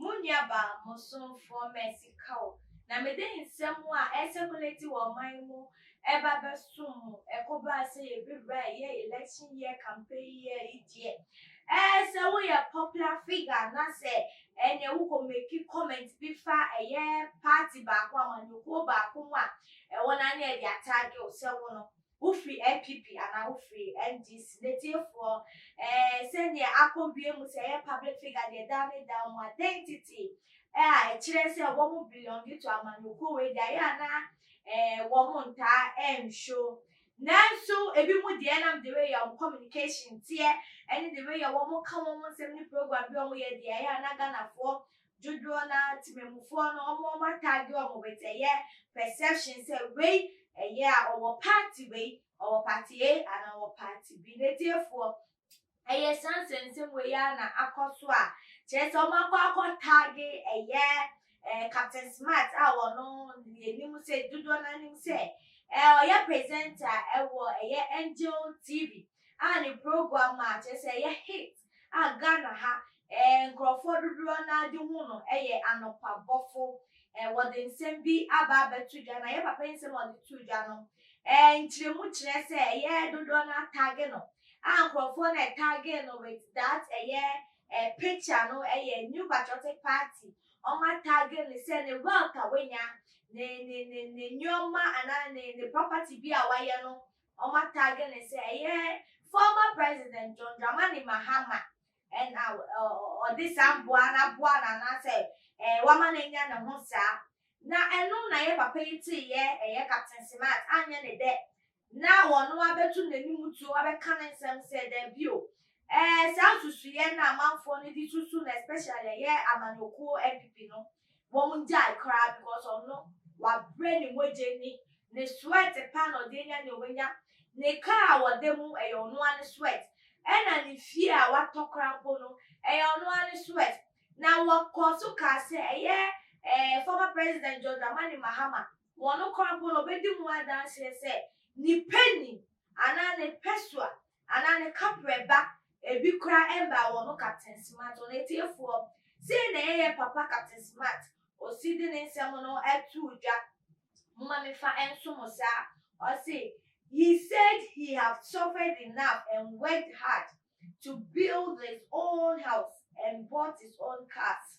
Mo nuabaa bosomfoɔ Mercy Kaur na mede nsɛm a ɛrecirculate wɔ ɔman mu ɛba bɛsom mo. Ɛkɔbaa sɛ yɛbɛwura ɛyɛ election year campaign year yi deɛ, ɛɛ sɛ woyɛ popular figure anasɛ ɛneɛ wokɔ make comment bi fa ɛyɛ party baako, amanyɔkuo baako mu a, ɛhɔ no ara na yɛde attack wo sɛ wo no Wofiri NPP anaa wofiri NDC? Natiefoɔ, eh, sɛdeɛ akɔ wie mu sɛ ɛyɛ public figure deɛ daa ne daa mu identity eh, a ɛkyerɛ sɛ wɔn belongi to amanyɔkuo wei deɛ ayɛ a na eh, wɔn ntaa ɛnhwɛ nanso ebi mu deɛ nam de wei yɛ wɔn communication teɛ ɛne de wei yɛ wɔn ka wɔn nsɛm ne program bi wɔn yɛ deɛ ayɛ a na Ghanafoɔ Dodoɔ no ara temanmufoɔ no wɔn wɔn atag wɔn with ɛyɛ perception sɛ wei ɛyɛ a ɔwɔ party wei, ɔwɔ party A anaa ɔwɔ party B. Natiefoɔ, ɛyɛ saa nsɛnsɛm wei ara na akɔ so a kyerɛ sɛ wɔn akɔ akɔ tag ɛyɛ ɛɛ Captain Smart a wɔno yɛnim sɛ dodoɔ no ara nim sɛ ɛɛ ɔyɛ presenter ɛwɔ ɛyɛ Angel TV a ne program a kyerɛ sɛ ɛyɛ hit. a Ghana ha nkurɔfoɔ dodoɔ no ara de hu no yɛ anɔpabɔfo. Wɔde nsɛm bi aba abɛto dwa, na yɛn papa yi nsɛm a ɔde too dwa no, nkyerɛmu kyerɛ sɛ ɛyɛ dodoɔ no ara tagge no, a nkurɔfoɔ no a ɛtaggee no with that ɛyɛ picture no yɛ New Patriotic Party, wɔatagge no sɛ ne wealth a wanya, ne nneɛma anaa ne property bi a wayɛ no Wɔatagge no sɛ ɛyɛ former President John Dramani Mahama na ɔde saa mmoa no aboa no anaasɛ wama no anya ne ho saa. Na ɛno na yɛn papa yi teeɛ, ɛyɛ Captain Smart, anyɛ ne dɛ na ɔno abɛto n'anim tuo abɛka ne nsɛm sɛ dabi o, saa nsusuiɛ no a amanfoɔ no de susu no especially ɛyɛ amanyɔkuo NPP no, Wɔngyae koraa because ɔno wabrɛ ne mogya ni, ne sweat paa na ɔde anya nea wanya, ne car a ɔda mu ɛyɛ ɔno ara ne sweat, ɛna ne fie a watɔ koraa mpo no ɛyɛ ɔno ara ne sweat. Na wɔkɔɔ so kaa sɛ ɛyɛ ɛɛ former president John Dramani Mahama, wɔno koraa mpo no ɔbɛdi ho adanseɛ sɛ ne pɛ ni anaa ne pɛ so a anaa ne kaprɛ ba ebi kora ɛmbaa wɔ no captain smart wɔn atiefoɔ sei na ɛyɛ papa captain smart osi de ne nsɛm no atuu dwa moma me fa ɛnso mo saa ɔse he said he have suffered enough and worked hard to build his own house and bought his own cars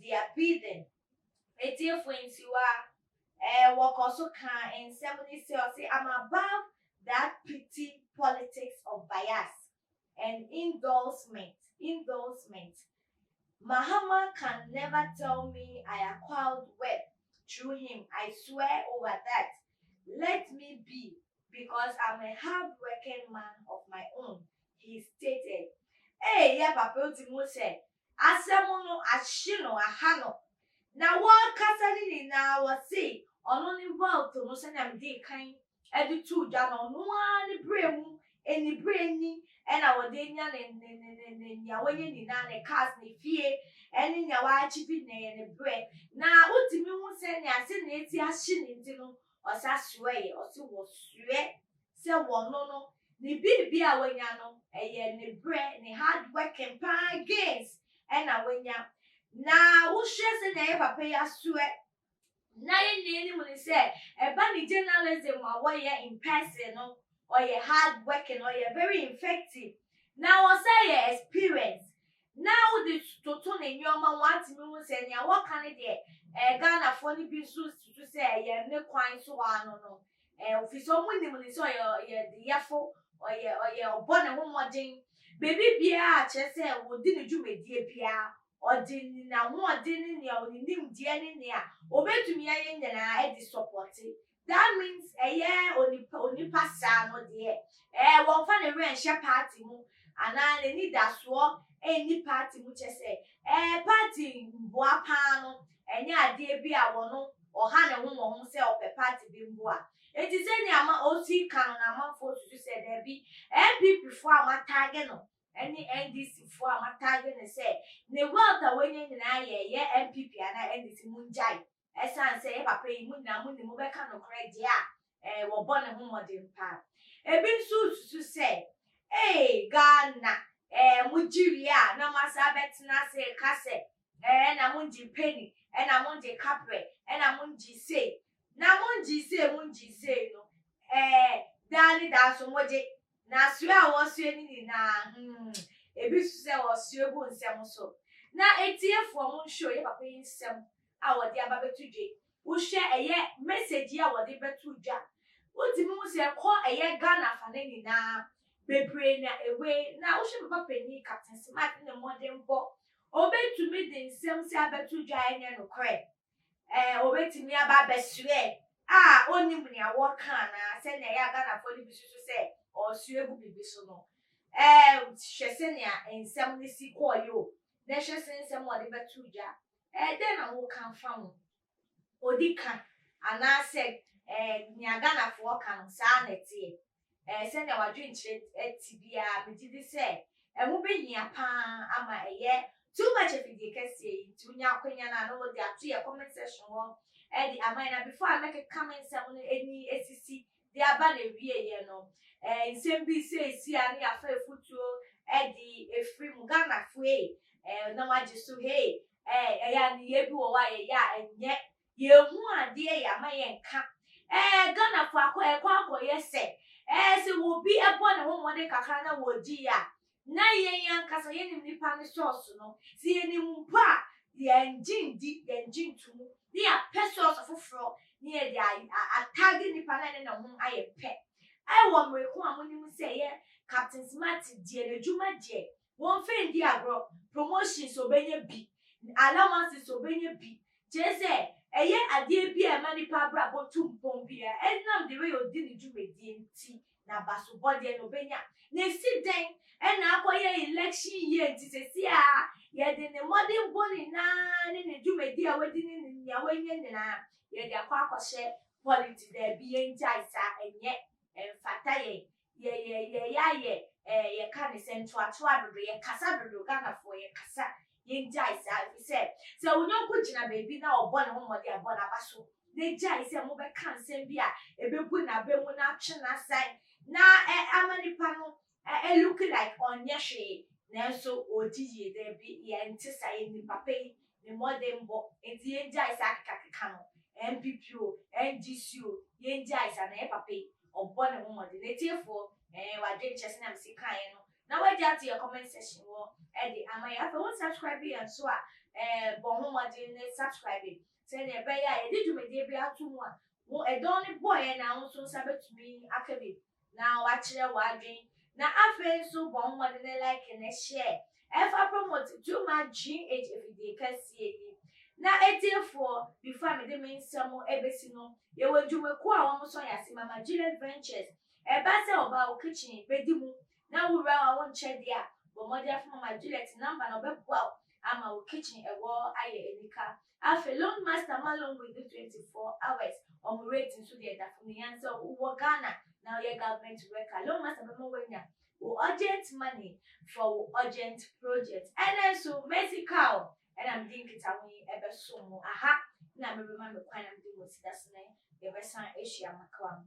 Dia Piden, etiefo ntiwa, eh, wɔkɔ so ka nsɛm ne sɛ, ɔse, I'm above that petty politics of bias and indulcement, indulcement. Mahama can never tell me I acquired web through him, I swear over that. Let me be because I'm a hardworking man of my own, he stated. Ei, yɛn papa, wotim hu sɛ asɛm no ahye no, aha no, na wɔrekasa no nyinaa wɔse ɔno ne Welt no sɛnea medee kan de too dwa no, ɔno ara ne berɛ mu anibere ni na wɔde anya ne, ne, ne, ne, ne nea wanya nyinaa, ne cars, ne fie, ne nea wɔachieve na ɛyɛ ne berɛ. Na wotumi hu sɛnea, sɛnea eti ahye no nti no, ɔsa soɛɛ, ɔse wɔsoɛ sɛ wɔno no ne biribi a wanya no ɛyɛ ne brɛ, ne hard working paa gains ɛna wanya. Na wohwɛ sɛnea yɛ papa yi asoɛ na yɛ nyinaa nim no sɛ ɛba ne journalism a wɔyɛ in person no ɔyɛ hard working, ɔyɛ very infective na ɔsan yɛ experience na wode toto ne nneɛma a wɔatumi hu sɛ nea wɔka no deɛ ɛɛ Ghanafoɔ no bi nso susu sɛ ɛyɛ ne kwan so a no no ɛɛ ofiri sɛ wɔn nim no sɛ ɔyɛ ɔyɛ deyɛfo ɔyɛ ɔyɛ ɔbɔ ne ho mmɔden baabi biara a kyerɛ sɛ wɔdi ne dwumadie biara ɔde n'ahoɔden ne nea ɔne nimdeɛ ne nea ɔbɛtumi ayɛ nyinaa de sɔpɔte That means ɛyɛ onipa onipa saa no deɛ ɛɛ wɔmfa ne werɛ nhyɛ party mu anaa n'ani da soɔ ɛnni party mu kyɛ sɛ ɛɛ party mboa paa no ɛnyɛ adeɛ bi a wɔn ɔha ne ho wɔ ho sɛ ɔpɛ party bi mboa eti sɛnea ama ɔsi ka no na amanfoɔ susu sɛ daabi NPP foɔ a matage no ɛne NDC foɔ a matage no sɛ ne wealth a wanya nyinaa yɛ ɛyɛ NPP anaa NDC mungyae. Ɛsiane sɛ yɛn papa yi, mo nyinaa munim, mobɛka nokorɛ deɛ a, ɛɛ, wɔbɔ ne ho mmɔden paa. Ebi nso resusu sɛ, Ee, Ghana, ɛɛ, mogye wie a, na moasan abɛtena ase reka sɛ, Ɛɛ, na mongye penny, ɛna mongye kaprɛ, ɛna mongye sei, na mongye sei, mongye sei no, ɛɛ, daa ne daa nso mogye. Na soɛ a wɔsoɛ no nyinaa, hmm, ebi susu sɛ wɔsoɛ gu nsɛm so. Na atiefoɔ, monhwɛ o, yɛ papa yi nsɛm a wɔde aba bɛto dwa yi, wohwɛ ɛyɛ message yi a wɔde bɛto dwa a, wotumi hu sɛ kɔ ɛyɛ Ghana afa no nyinaa, bebree na ɛwei. Na wohwɛ papa panin Captain Smart ne ne mmɔdenbɔ, ɔbɛtumi de nsɛm sei abɛto dwa a ɛnyɛ nokorɛ. ɛɛ obetumi aba abɛsoɛ a onim nea wɔka anaa sɛnea ɛyɛ a Ghanafoɔ no bi susu sɛ ɔresoɛ agu biribi so no. Ɛɛ hwɛ sɛnea nsɛm no si kɔɔeɛ o, na hwɛ sɛ nsɛm a ɔde bɛto gya. Ɛɛ dɛn na woka fa ho? Odi ka anaasɛ ɛɛ nea Ghanafoɔ ka no saa na ɛteɛ? Ɛɛ, sɛnea w'adwenkyerɛ te biara, megye di sɛ ɛho behia paa ama ɛyɛ Too Much afidie kɛseɛ yi nti wonya akwanya no a na wode ato yɛn comment section hɔ de ama yɛn. Na before a mɛkeka me nsɛm no ani asisi de aba n'awieeɛ no, ɛɛ, nsɛm bi seesei a ne yɛafa afutuo de afiri mu. Ghanafoɔ ei, ɛɛ, nam agye so hei, ɛɛ, ɛyɛ a nneyɛɛ bi wɔ hɔ a yɛyɛ a ɛnyɛ Yɛn hu adeɛ yɛ ama yɛn ka ɛɛ Ghana fo akɔ ɛkɔ akɔ yɛ sɛ ɛɛ sɛ wɔ bi ɛbɔ ne ho mmɔden kakra na wɔ di yɛ a na yɛn ankasa yɛ nim nipa no source no sɛ yɛ nim mpo a yɛn gye ndi yɛn gye nto mu na yɛ apɛ source foforɔ na yɛ de a tag nipa no a ɛne ne ho ayɛ pɛ ɛwɔ mmereko a mo nim sɛ yɛ captain smart deɛ na adwuma deɛ Wɔn fɛ ndi agorɔ, promotions ɔbɛnya bi, allowances ɔbɛnya bi, kyerɛ sɛ ɛyɛ adeɛ bi a ɛma nipa abrabɔ tu mpɔn biara, ɛnam the way ɔdi ne dwumadie nti, n'abasobɔ deɛ no ɔbɛnya. Na ɛsi dɛn ɛna akɔyɛ election year nti sɛsi a yɛde ne mmɔdenbɔ nyinaa ne ne dwumadie a wadi ne nea wanya nyinaa yɛde akɔ akɔhyɛ polity, daabi yɛngyae saa, ɛnyɛ, ɛmfata yɛn, Yɛ yɛ yɛ yɛ ayɛ ɛɛ yɛ ka ne sɛ ntoatoa dodo yɛ kasa dodo Ghanafoɔ yɛ kasa yɛ ngyae saa efisɛ sɛ wo nyɔnko gyina baabi na ɔbɔ ne ho mmɔden a bɔ n'abaso na gyae sɛ mo bɛ ka nsɛm bi a ebe gu n'aba mu na atwe n'asan na ɛ ama nipa no ɛ ɛ look like ɔnyɛ hwee nanso ɔɔdi yie daabi yɛ nte saa yɛ nim papa yi ne mmɔdenbɔ nti yɛngyae saa kekakeka no, NPP o, NGC o, yɛngyae saa na yɛ papa yi ɔbɔ ne ho mmɔden. Natiefoɔ, ɛɛ w'adwene kyerɛ sɛnea mese kaeɛ no na w'agye ato yɛ comment section hɔ de ama yɛn. Afei wo nsubscribe yɛn nso a, ɛɛ bɔ ho mmɔden ne subscribe sɛnea ɛbɛyɛ a yɛde dwumadie biara to mu a, wo ɛdɔn no bɔeɛ no ara wo nso wo nsa bɛtumi aka bi. na wakyerɛ w'adwen na afei nso bɔ mmɔden ne like ne share ɛfa promote dwuma GH afidie kɛseɛ yi na ɛtiefoɔ bifa mede me nsɛm ɛbɛsi no yɛwɔ adwumakuo a wɔn sɔ yɛn ase mama Juliet Ventures ɛba sɛ ɔbaa wo kitchen bɛdi mu na wo wura a wo nkyɛ deɛ a bɔ mmɔden fa mama Juliet number na ɔbɛboa wo ama wo kitchen ɛwɔ ayɛ anika Afei long master ma long wei do twenty four hours wɔn rate nso deɛ da fam yɛn sɛ wo wɔ Ghana na wo yɛ government worker long master bɛma wanya wo urgent money for wo urgent project ɛnɛ nso mesi car o ɛna mede nkitaho yi ɛbɛsom mo aha na mebɛma me kwan na mede mo sida so na yɛbɛsan ahyia makawa mu.